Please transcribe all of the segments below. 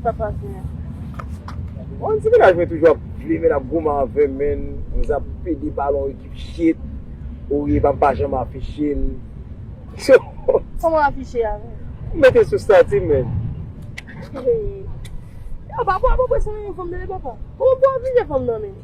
Sa pa fini. Bon ti menaj mwen toujou ap jwe menn ap goumen avèm menn m zap pede balon ekip shit ou ye banm pa janm afiche l so. Koman w afiche a menm? M mete sou stati m menn. Epa papa pran swen yon fanm nan epa pa. Koman pou w afije fanm nan menn?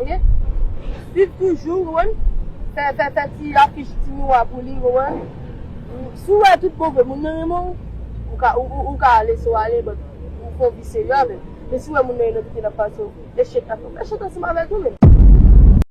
Ok swiv toujou ou wè fè fè fè ti afich ti miwa pou li ou wè si ou wè tout bon vre moun nan renmen ou ou ka ou ka lese ou ale but ou fon vi serye avèl men si ou wè moun nan enèvite lap pase ou echek lap fè ou echek ansanm avèl tou menn.